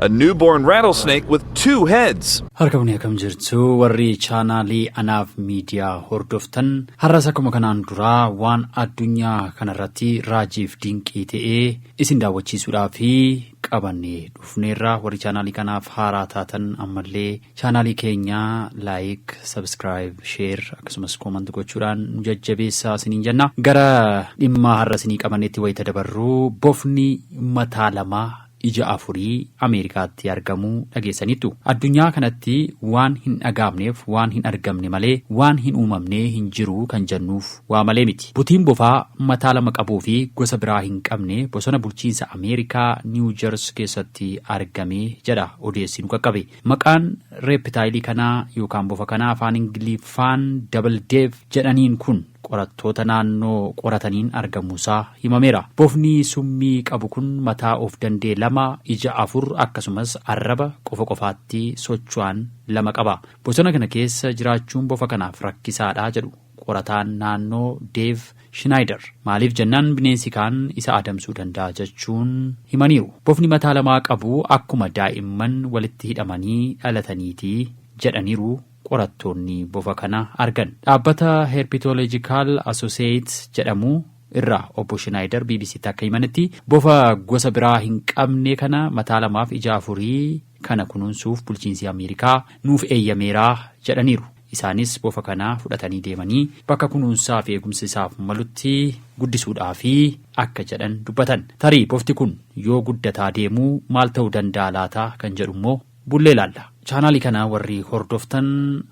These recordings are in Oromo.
A newborn rattlesnake with two heads. Harka bunee akkam jirtu warri chaanaalii anaaf miidiyaa hordoftan har'as akkuma kanaan duraa waan addunyaa kanarratti raajiif dinqii ta'ee isin daawwachiisuudhaaf qabannee dhufneerra warri chaanaalii kanaaf haaraa taatan ammallee Chaanaalii keenya like, subscribe, share akkasumas comment gochuudhaan nu jajjabeessaa isiniin jenna. Gara dhimmaa har'a isinii qabanneetti wayita dabarru bofni mataa lamaa ija afurii Ameerikaatti argamu dhageessaniittu. Addunyaa kanatti waan hin dhagaamneef waan hin argamne malee waan hin uumamnee hin jiru kan jennuuf waa malee miti. Butiin bofaa mataa lama qabuu fi gosa biraa hin qabne bosona bulchiinsa Ameerikaa Niiw Jers keessatti argame jedha odeessi nu qaqqabe. Maqaan reepitaayilii kanaa yookaan bofa kanaa afaan Ingiliffaan Double Dev jedhaniin kun qorattoota naannoo qorataniin argamuusaa himameera. Bofni summii qabu kun mataa of danda'e lama, ija afur akkasumas arraba qofa qofaatti socho'an lama qaba. Bosona kana keessa jiraachuun bofa kanaaf rakkisaadha jedhu Qorataan naannoo Deev Shinaayider maaliif jennaan bineensi kaan isa adamsuu danda'a jechuun himaniiru. Bofni mataa lamaa qabu akkuma daa'imman walitti hidhamanii dhalataniiti jedhaniiru qorattoonni bofa kana argan. Dhaabbata Herpetological Associates jedhamu irraa Obbo Shinaayider BBCtti akka himanitti, bofa gosa biraa hin qabne kana mataa lamaaf ija afurii kana kunuunsuuf bulchiinsi Ameerikaa nuuf eeyyameera jedhaniiru. Isaanis bofa kana fudhatanii deemanii bakka kunuunsaa fi eegumsa isaaf malutti guddisuudhaafi akka jedhan dubbatan. Tarii bofti kun yoo guddataa deemu maal ta'uu danda'a laata kan jedhu immoo bullee ilaalla. Chaanaalii kana warri hordoftan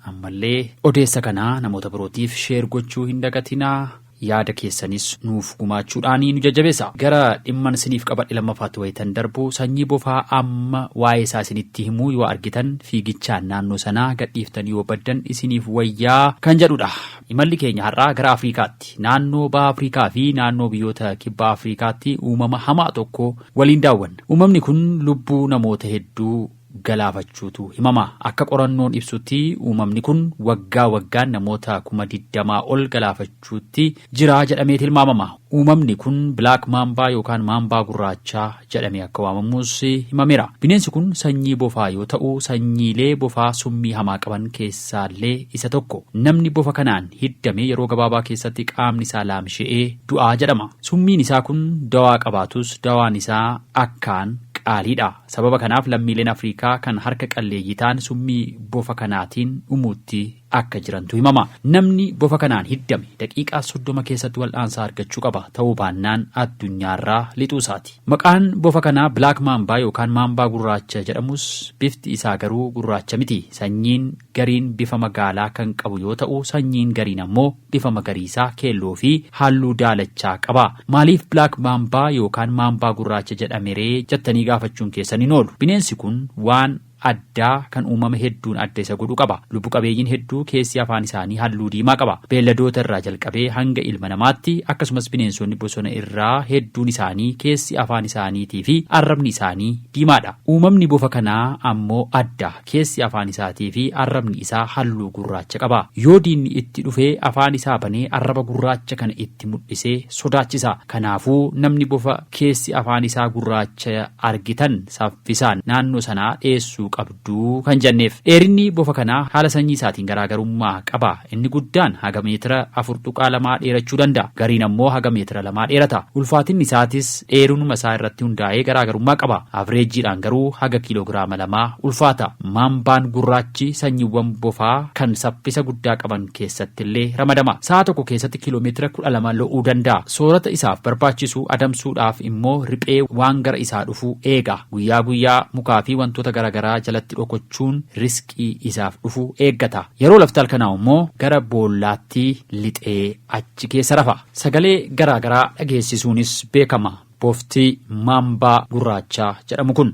ammallee odeessa kana namoota birootiif share gochuu hin dagatinaa. yaada keessanis nuuf gumaachuudhaani nu jajjabeessa. Gara dhimman siniif qabadhe lammafaatti wayitan darbu sanyii bofaa amma waa'ee isaa isinitti himuu yoo argitan fiigichaan naannoo sanaa gadhiiftanii yoo baddan isiniif wayyaa kan jedhudha. Imalli keenya har'aa gara Afriikaatti, naannoo Baha Afriikaa fi naannoo biyyoota Kibba Afriikaatti uumama hamaa tokko waliin daawwanna. Uumamni kun lubbuu namoota hedduu galaafachuutu himama. Akka qorannoon ibsutti uumamni kun waggaa waggaan namoota kuma digdamaa ol galaafachuutti jira jedhamee tilmaamama. Uumamni kun Bilaak Maambaa yookaan Maambaa Gurraachaa jedhamee akka waamamus himameera. Bineensi kun sanyii bofaa yoo ta'u, sanyiilee bofaa summii hamaa qaban keessaallee isa tokko. Namni bofa kanaan hiddame yeroo gabaabaa keessatti qaamni isaa laamsha'ee du'a jedhama. Summiin isaa kun dawaa qabaatus dawaan isaa akkaan qaaliidha. Sababa kanaaf lammiileen Afriikaa kan harka qalleeyyii ta'an summii bofa kanaatiin dhumuutti akka jirantu himama. Namni bofa kanaan hiddame daqiiqaa soddoma keessatti wal'aansa argachuu qaba, ta'uu baannaan addunyaarraa lixuu isaati. Maqaan bofa kanaa Black Mamba yookaan Maambaa Gurraacha jedhamus bifti isaa garuu gurraacha miti. Sanyiin. gariin bifa magaalaa kan qabu yoo ta'u sanyiin gariin ammoo bifa magariisa, keelloo fi haalluu daalachaa qaba. Maaliif Black Mamba yookaan Maambaa Gurraacha jedhame ree jattanii gaafachuun keessan hin oolu. Bineensi kun waan addaa kan uumama hedduun adda isa godhu qaba. Lubbu qabeeyyiin hedduu keessi afaan isaanii halluu diimaa qaba. Beelladoota irraa jalqabee hanga ilma namaatti akkasumas bineensonni bosona irraa hedduun isaanii keessi afaan isaaniitii fi arrabni isaanii diimaadha. Uumamni bofa kanaa ammoo adda. Keessi afaan isaatii fi arrabni isaa halluu gurraacha qaba. Yoo diinni itti dhufe afaan isaa banee arraba gurraacha kana itti mudhisee sodaachisa. Kanaafuu namni bofa keessi afaan isaa gurraacha argitan saffisaan naannoo sanaa dheessuu qabdu kan janneef. Dheerinni bofa kanaa haala sanyii isaatiin garaagarummaa qaba. Inni guddaan haga meetira 4.2 dheerachuu danda'a. Gariin ammoo haga meetira 2 dheerata. Ulfaatinni isaatis dheerunuma isaa irratti hundaa'ee garaagarummaa qaba. Avreejiidhaan garuu haga kiiloogiraama 2 ulfaata. Maambaan gurraachi sanyiwwan bofaa kan saffisa guddaa qaban keessattillee ramadama. Sa'a tokko keessatti kiilomeetira 12 lo'uu danda'a. Soorata isaaf barbaachisu adamsuudhaaf immoo riphee waan gara isaa dhufu eega. Guyyaa guyyaa mukaafi wantoota garaagaraa jalatti dhokochuun riskii. Waaqi isaaf dhufu eeggata. Yeroo lafti halkanaa'u immoo gara boollaatti lixee achi keessa rafa. Sagalee garaa garaa dhageessisuunis beekama. Bofti maambaa gurraachaa jedhamu kun.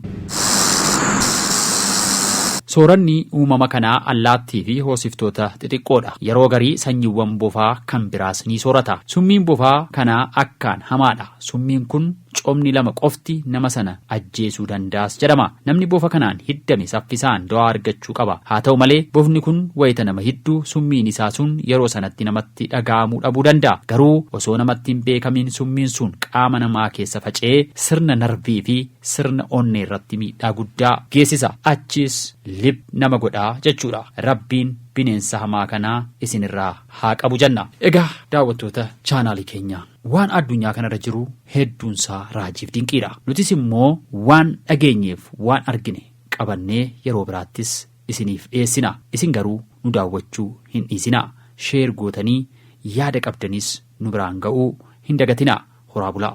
Sooranni uumama kanaa allaattiifi hoosiftoota xixiqqoodha. Yeroo garii sanyiwwan bofaa kan biraas ni soorata. Summiin bofaa kanaa akkaan hamaadha. Summiin kun Coomni lama qofti nama sana ajjeesuu danda'as jedhama. Namni bofa kanaan hiddame saffisaan do'aa argachuu qaba. Haa ta'u malee, bofni kun wayita nama hiddu summiin isaa sun yeroo sanatti namatti dhaga'amuu dhabuu danda'a. Garuu osoo namatti hin beekamiin summiin sun qaama namaa keessa faca'ee sirna narvii fi sirna onnee irratti miidhaa guddaa geessisa. Achiis lip nama godha jechuudha. Rabbiin bineensa hamaa kana isin irraa haa qabu jenna. Egaa daawwattoota chaanaalii keenya. Waan addunyaa kanarra jiru hedduunsaa raajiif dinqiidha. Nutis immoo waan dhageenyeef waan argine qabannee yeroo biraattis isiniif dhiyeessina. Isin garuu nu daawwachuu hin dhiisinaa. Sheer gootanii yaada qabdanis nu biraan ga'uu hin dagatinaa. Horaa bulaa!